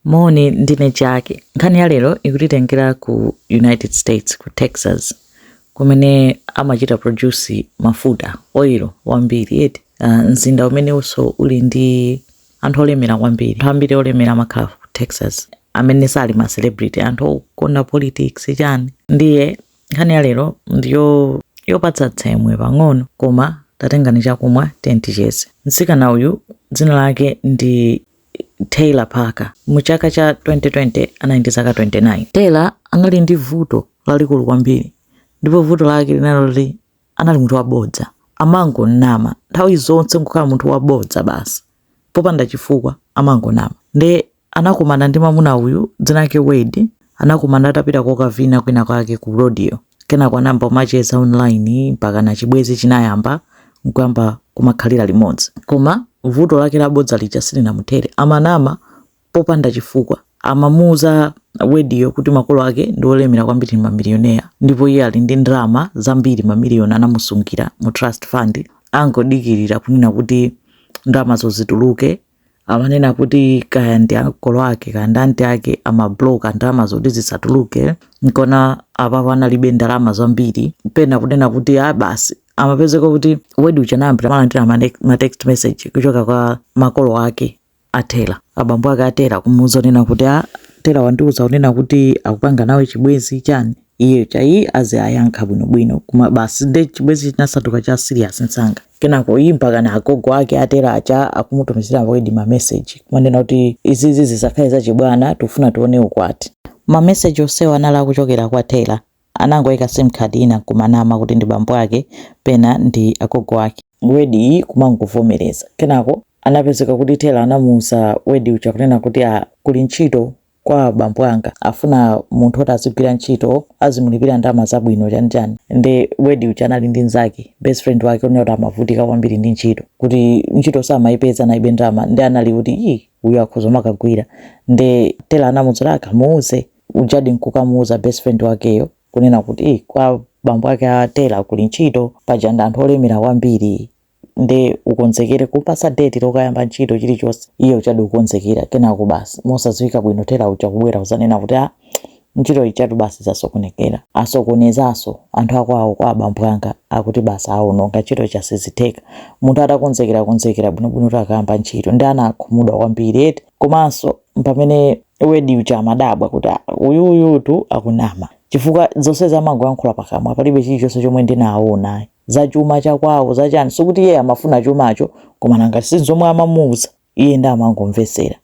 Moni, ndine Jaki. Nkhani ya lero ikutitengera ku United States, ku Texas, kumene amachita produce mafuta, oil wambiri eti. Uh, mzinda umenenso uli ndi anthu olemera kwambiri. Anthu ambiri olemera amakhala ku Texas amene sali ma celebrity, anthu okonda politics chani. Ndiye nkhani ya lero ndiyo yopatsa tsemwe pang'ono koma tatengani chakumwa ticheze. Mtsikana uyu dzina lake ndi Taylor Parker. Mu chaka cha 2020 anali ndi zaka 29. Taylor anali ndi vuto lalikulu kwambiri ndipo vuto lake linali loti anali munthu wabodza. Amangonama nthawi zonse nkukhala munthu wabodza basi popanda chifukwa amangonama. Nde anakumana ndi mamuna uyu dzina lake Wade Anakumana atapita kokavina kwina kwake ku rodeo. Kenako anayamba kumacheza online mpakana chibwenzi chinayamba n'kuyamba kumakhalira limodzi. Koma vuto lake la bodza lija silinamuthere. Amanama popanda chifukwa. Amamuuza Wade-yo kuti makolo ake ndi olemera kwambiri ndi mamiliyoneya ndipo iye ali ndi ndalama zambiri mamiliyoni anamusungira mu trust fund angodikirira kunena kuti ndalamazo zituluke amanena kuti kaya ndi ankolo ake kaya ndi anti ake amabloka ndalamazo kuti zisatuluke nkuona apapo analibe ndalama zambiri pena kunena kuti a basi amapezeka kuti Wade uja anayamba kumalandira mane- ma text message kuchoka kwa makolo ake a Taylor abambo ake a Taylor kumuuza kunena kuti a Taylor wandiuza kunena kuti akupanga nawe chibwenzi chani iye chayi aziwayankha bwinobwino koma basi nde chibwenzi chinasanduka cha serious msanga kenako iyi mpaka na agogo ake a Taylor aja akumutumizira Wade ma message kumanena kuti izizi zisakhale zachibwana tikufuna tione ukwati ma message onsewa anali akuchokera kwa Taylor anangoyika sim card ina kumanama kuti ndi bambo ake pena ndi agogo ake Wade iyi kumangovomereza kenako anapezeka kuti Taylor anamuuza Wade uja kunena kuti a kuli ntchito kwa bambo anga afuna munthu woti azigwira ntchito azimulipira ndalama zabwino chani chani nde Wade uja anali ndi nzake best friend wake kunena kuti amavutika kwambiri ndi ntchito kuti ntchito samayipeza analibe ndalama nde anali kuti iyi uyu akhoza kumakagwira nde Taylor anamuuza akamuuze ujadi nkukamuuza best friend wakeyo kunena kuti "Eh, kwa bambo ake a Taylor kuli ntchito paja ndi anthu olemera kwambiri nde ukonzekere kumpatsa date lokayamba ntchito chilichonse iye ujadi kukonzekera kenako basi mosadziwika bwino Taylor uja kubwera kudzanena kuti a ntchito ijatu basi zasokonekera asokonezanso anthu akwawo kwa abambo anga akuti basi aononga ntchito ija sizitheka munthu atakonzekera konzekera bwinobwino kuti akayamba ntchito ndi anakhumudwa kwambiri eti komanso mpamene Wade uja amadabwa kuti "Ah, uyu uyutu akunama chifukwa zonse amangoyankhula pakamwa palibe chilichonse chomwe ndinaona za chuma cha kwawo za chani sikuti iye amafuna chumacho koma nanga si zomwe amamuuza iye ndi amangomvetsera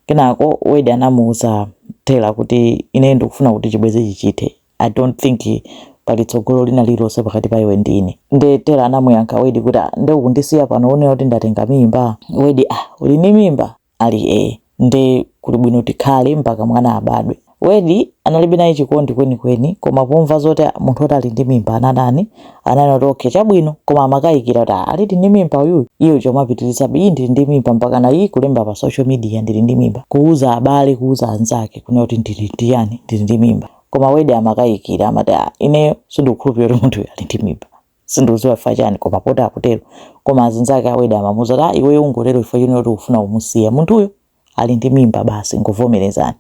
kenako Wade anamuuza Taylor kuti ine ndikufuna kuti chibwezichi chithe i don't think pali tsogolo lina lililonse pakati pa iwe ndi ine nde Taylor anamuyankha Wade kuti "Ah, nde ukundisiya pano unena kuti ndatenga mimba Wade ah uli ndi mimba Ali ee, Nde kuli bwino tikhale mpaka mwana abadwe. Wade analibe naye chikondi kweni kweni koma pomva zoti munthu oti ali ndi mimba anatani ananena kuti okay chabwino koma amakayikira kuti ah alidi ndi mimba uyuyu iye uja kumapitirizabe ii ndili ndi mimba mpakana ii kulemba pa social media ndili ndi mimba kuuza abale kuuza anzake kunena kuti ndili ndi chani ndili ndi mimba koma Wade amakayikira amati ah ineyo sindikukhulupirira kuti munthuyu ali ndi mimba. sindikudziwa chifukwa chani koma poti akutero koma azinzake a Wade amamuuza kuti "Ah, iweyo ungotero chifukwa chonena kuti ukufuna kumusiya munthuyo ali ndi mimba basi ngovomerezani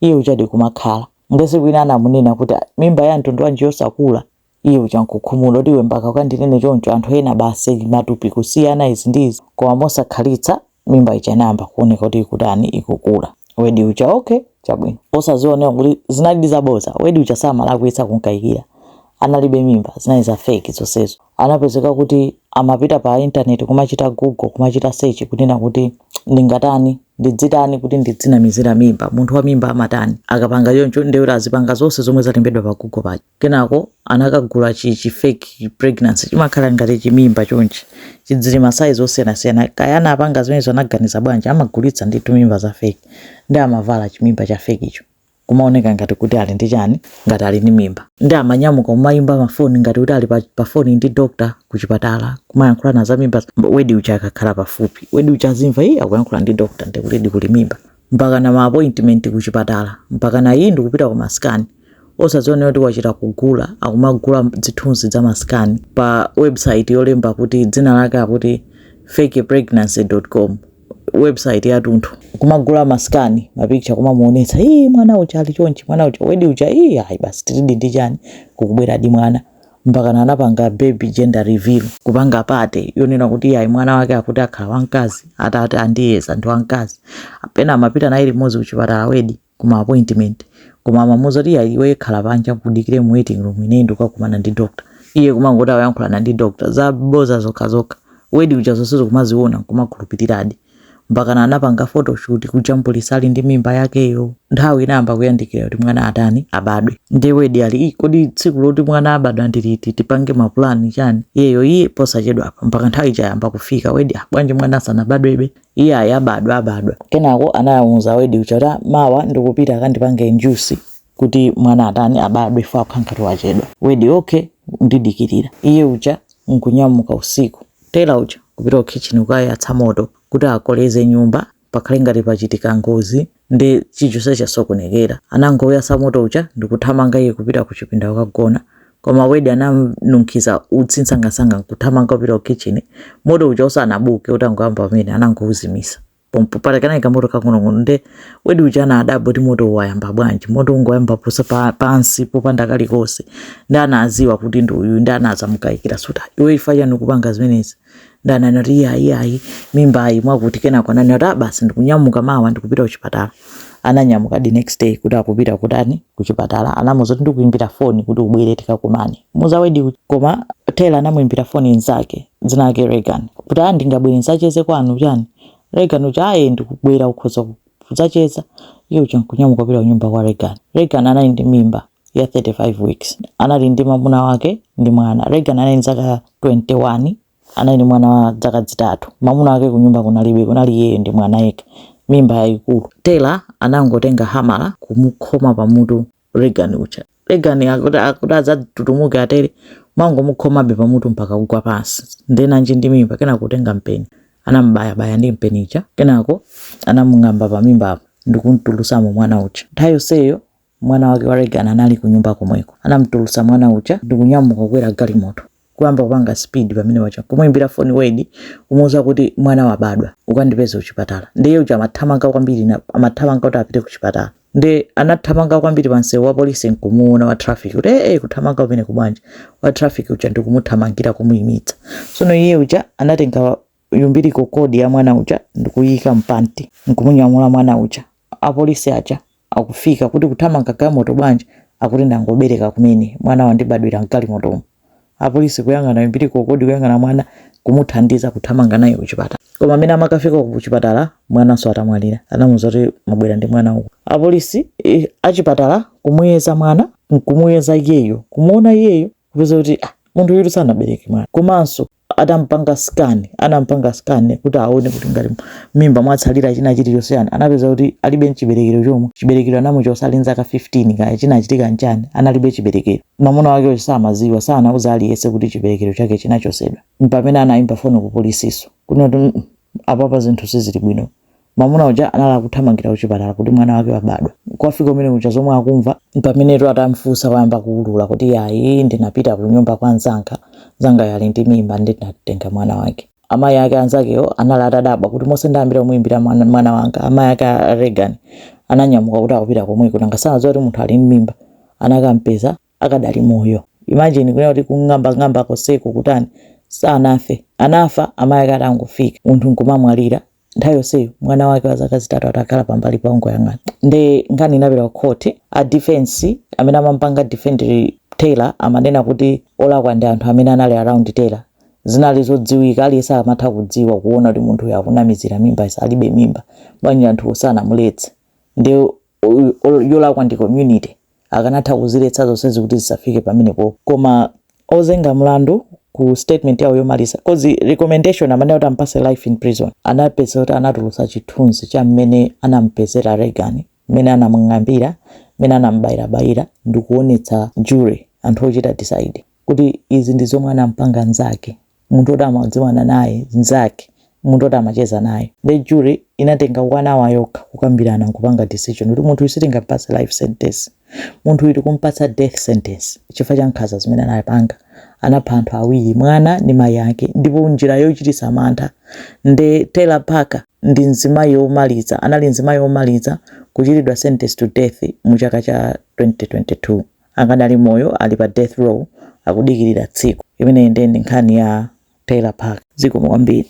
iye ujadi kumakhala nde tsiku lina anamunena kuti "Ah, mimba ya mtundu wanji yosakula iye uja nkukhumudwa kuti iwe mpaka ukandinene choncho anthu ena basi matupi kusiyana izi ndi izi koma mosakhalitsa mimba ija inayamba kuoneka kuti ikutani ikukula Wade uja okay chabwino osadziwa kunena kuti zinalidi zaboza Wade uja samalakwitsa kunkayikira analibe mimba zinali za fake zonsezo anapezeka kuti amapita pa intaneti kumachita google kumachita search kunena kuti ndingatani ndidzitani kuti ndidzinamizira mimba munthu wa mimba amatani akapanga choncho nde kuti azipanga zonse zomwe zalembedwa pa google paja kenako anakagula chi chi fake chi pregnancy chimakhala ngati chimimba chonchi chi zili ma size osiyanasiyana kaya anapanga zimenezo anaganiza bwanji amagulitsa ndithu mimba za fake ndi amavala chimimba cha fake icho kumaoneka ngati kuti ali ndi chani ngati ali ndi mimba ndi amanyamuka kumayimba mafoni ngati kuti ali pa, pa foni ndi doctor kuchipatala kumayankhulana za mimba Wade uja akakhala pafupi Wade uja azimva iye akuyankhula ndi doctor ndi kutidi kuli mimba mpakana ma appointment ku chipatala mpakana ii ndikupita ku ma scan osadziwa kunena kuti wachita kugula akumagula dzithunzi dza ma scan pa website yolemba kuti dzina lake akuti fakepregnancy.com website yatunthu kumagula ma scan ma picture kumamuonetsa ii mwana uja ali chonchi mwana uja Wade uja ii ayi basi tilidi ndi chani kukubweradi mwana mpakana anapanga baby gender reveal kupanga party yonena kuti iyayi mwana wake akuti akhala wamkazi atati andiyeza ndi wamkazi pena amapita naye limodzi kuchipatala Wade kuma appointment koma amamuuza kuti iyayi iwe khala panja ukadikire mu waiting room ine ndikakumana ndi doctor iye kumangoti akuyankhulana ndi doctor za boza zokha zokha Wade uja zonsezo kumaziona kumakhulupiriradi mpakana anapanga photoshoot kujambulisa ali ndi mimba yakeyo nthawi inayamba kuyandikira kuti mwana atani abadwe ndiye Wade ali "Ii, kodi tsiku loti mwana abadwa ndi liti tipange mapulani chani iyeyo iye posachedwapa mpaka nthawi ija yayamba kufika Wade "Ah, bwanji mwana sanabadwebe iye ayi abadwa abadwa kenako anamuuza Wade uja kuti "Ah, mawa ndikupita akandipange induce kuti mwana atani abadwe chifukwa akukhala ngati wachedwa. Wade, Okay, undidikirira. Iye uja n'kunyamuka usiku. Taylor uja n'kupita kukhitchini kukayatsa moto kuti akoleze nyumba pakhale ngati pachitika ngozi nde chilichonse chasokonekera. Anangouyatsa moto uja ndikuthamanga iye kupita kuchipinda kukagona koma Wade ananunkhiza utsi msangamsanga n'kuthamanga kupita kukhitchini moto uja usanabuke utangoyamba pamene anangouzimitsa. pompo popeza kanali kamoto kakung'onong'ono nde Wade uja anadabwa kuti moto wayamba bwanji moto ungoyamba pasa pa, pansi popanda kalikonse nde anaziwa kuti ndi uyu nde anazamukayikira kuti iwe chifukwa chani ukupanga zimenezi nde anati iyayi ayi mimbayi mwakuti kenako anati a basi ndikunyamuka mawa ndikupita kuchipatala ananyamuka the next day kuti akupita kutani kuchipatala anamuza kuti ndikuimbira foni kuti ubwere tikakumane kumuza Wade uja. koma Taylor anamuimbira foni nzake dzina lake Regan kuti a ndingabwere ndzacheze kwanu chani Regan uja ayi ndikubwera ukhoza kudzacheza iye uja nkunyamuka kupita kunyumba kwa Regan Regan anali ndi mimba ya 35 weeks anali ndi mamuna wake ndi mwana Regan anali ndi zaka 21 anali ndi mwana wa zaka zitatu mamuna wake kunyumba kunalibe kunali iyeyo ndi mwana yekha mimba yayikulu Taylor anangotenga hamala kumukhoma pamutu Regan uja Regan akuti adzadzidzimuke atere amangomukhomabe pamutu mpaka kugwa pansi nde nanji ndi mimba kenako kutenga mpeni anambayabaya ndi mpeni uja kenako anamung'amba pamimba apo ndikumtulusamo mwana uja nthawi yonseyo mwana wake wa Regan anali kunyumba komweko anamtulusa mwana uja ndikunyamuka kukwera galimoto kuyamba kupanga speed pamene paja kumuimbira foni Wade kumuuza kuti mwana wabadwa ukandipeze kuchipatala nde iye uja amathamanga kwambiri na- amathamanga kuti apite kuchipatala nde anathamanga kwambiri pansewu wa polisi nkumuona wa traffic kuti ee kuthamanga kumeneku bwanji wa traffic uja ndikumuthamangira kumuimitsa sono iye uja anatenga umbilical cord ya mwana uja ndikuyika mpanti nkumunyamula mwana uja apolisi aja akufika kuti kuthamanga galimoto bwanji akuti ndangobereka kumene mwana wandibadwira mgalimotomo apolisi kuyang'ana umbilical cord kuyang'ana mwana kumuthandiza kuthamanga naye kuchipatala koma mmene amakafika kuchipatala mwananso atamwalira anamuza kuti mwabwera ndi mwana uku apolisi eh, achipatala kumuyeza mwana nkumuyeza iyeyo kumuona iyeyo kupeza kuti ah, munthu uyu sanabereke mwana komanso Atampanga scan, anampanga scan kuti aone kuti ngati m'mimba mwatsalira china chilichonse yani, anapeza kuti alibe nchiberekero chomwe. Chiberekero anamuchotsa ali nzaka 15 kaya chinachitika nchani, analibe chiberekero. Mamuna wakeyo samaziwa, sanauze aliyese kuti chiberekero chake chinachosedwa. Mpamene anaimba foni ku polisiso, kunena kuti mm apapa zinthu sizili bwino. Mamuna uja anali akuthamangira kuchipatala kuti mwana wake wabadwa. Kukafika kumene kuja zomwe akumva mpamene atamfunsa wayamba kuulula kuti yayi ndinapita kunyumba kwa nzanga, nzangayo ali ndi mimba ndi ndinatenga mwana wake. Amayi ake anzakewo anali atadabwa kuti monse ndayambira kumuimbira mwana, mwana wanga. Amayi ake a Reagan ananyamuka kuti akupita komweko nanga sanadziwa kuti munthu ali ndi mimba. Anakampeza akadali moyo imagine kunena kuti kung'ambang'amba konseko kutani sanafe anafa amayi ake atangofika munthu nkumamwalira nthawi yonseyo mwana wake wa zaka zitatu atakhala pambalipa akungoyang'ana nde nkhani inapita kukhoti a defense amene amampanga defend taylor amanena kuti olakwa ndi anthu amene anali around taylor zinali zodziwika aliyense amatha kudziwa kuona kuti munthu uyu akunamizira mimba alibe mimba bwanji anthuwo sanamuletse nde yolakwa ndi community akanatha kuziletsa zonsezi kuti zisafike pamenepo koma ozenga mlandu ku statement yawo yomaliza cause recommendation amanena kuti ampase life in prison anapeza kuti anatulusa chithunzi cha mmene anampezera Reagan mmene anamung'ambira mmene anambayirabayira ndikuonetsa jury anthu ochita decide kuti izi ndi zomwe anampanga nzake munthu oti amadziwana naye, mzake, munthu oti amacheza naye. Nde jury inatenga 1 hour yokha kukambirana nkupanga decision kuti munthu uyu sitingampatse life sentence, munthu uyu tikumpatsa death sentence chifukwa cha nkhanza zimene anapanga, anapha anthu awiri mwana ndi mayi ake ndipo njira yochitisa mantha nde Taylor Parker ndi mzimayi omaliza, anali mzimayi omaliza kuchitidwa sentence to death mu chaka cha 2022. akadali moyo ali pa death row akudikilira tsiku. imeneyi ndiye ndi nkhani ya Taylor Parker. zikomo kwambiri.